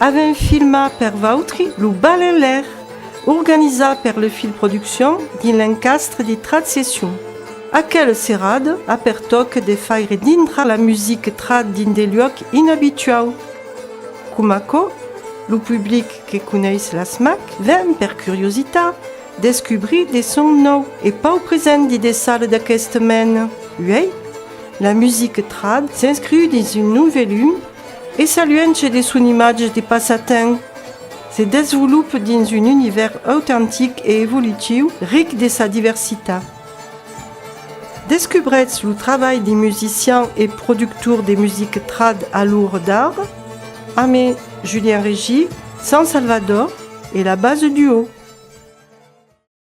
Avèm filmat per vautri lo Bal en Lair, organizat per Le Fil Productions dins l'encastre de Trad Session. Aquel serad a per tòc de faire dintra la music trad dins de luòc inabituau. Coma aquò, lo public que coneis las mac ven per curiositat descubrir de son nòu e pau present de de sal d'aqueste mèn. Uèi, la music trad s'inscriu dins un nòu velum E sa luenche de son imatge de passatemps, se desvolope dins un univèrs autentic e evolutiu ric de sa diversitat. Descubretz lo trabalh de musician e productor de music trad a l'Or d'Ar, amé Julien Régi, San Salvador e la Base Duo.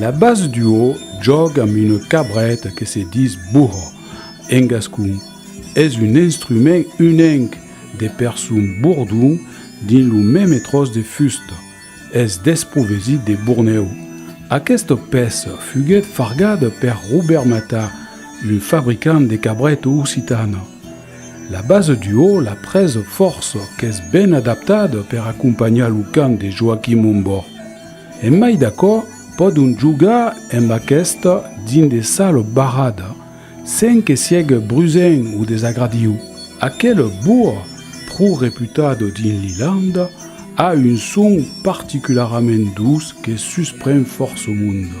La base duo jòga amb una cabreta que se dis burro en gascon. Es un instrument unenc de per son bordon dins lo meme tròç de fusta. Es desprovesit de bornèu. Aquesta pèça fuguèt fargada per Robert Matà, un fabricant de cabreta occitana. La base duo l'a pres fòrça, qu'es ben adaptada per acompanhar lo cant de Joaquim Ombò. En mai d'aquò, pòdon jogar amb aquesta dins de sal barrada, sens que siègue brusent o desagradiu. Aquel boa, pro reputat dins l'Ilanda, a un son particularament duç que suspren fòrça monde.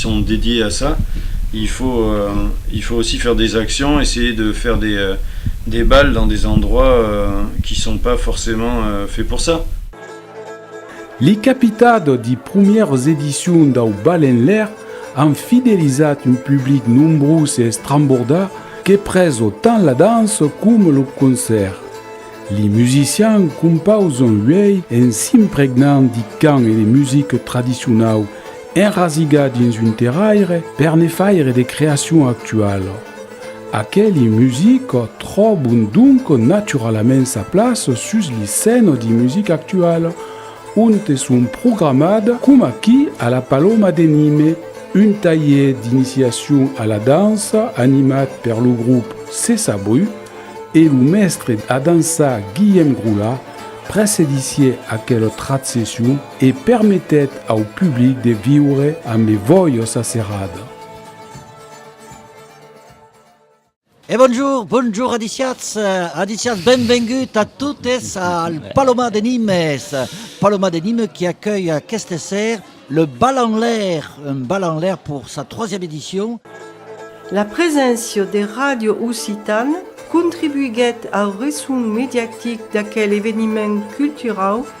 sont dédiés à ça, il faut il faut aussi faire des actions, essayer de faire des des bals dans des endroits qui sont pas forcément faits pour ça. Li capitado di prumieras edicions dau Bal en Lair an fidelizat un public nombrós e estrambordà que preso tant la dança coma lo concèrt. Li musicians compausan uèi en s'impregnant di cant e de musica tradicionau Enrasigar dins un terraire per ne faire de creacion actuala. Aqueli music tròbon donc naturalament sa plaça sus li scène di music actual, onte son programat, com aquí a la Paloma de Nime, un talhier d'iniciacion a la dança animat per lo grup Cessa Bru e lo mèstre a dançar Guillem Grola precedissié aquela tratsession, e permetèt au public de viure amb e vòios a serrada. E bonjour, bonjour adiciats, adiciats, benvengut a totes al Paloma de Nimes, Paloma de Nimes qui accueille aquest esser le bal en l'air, un bal en l'air pour sa troisième édition. La preséncia de Radio Occitane contribuiguèt au resson mediatic d'aquel eveniment culturau,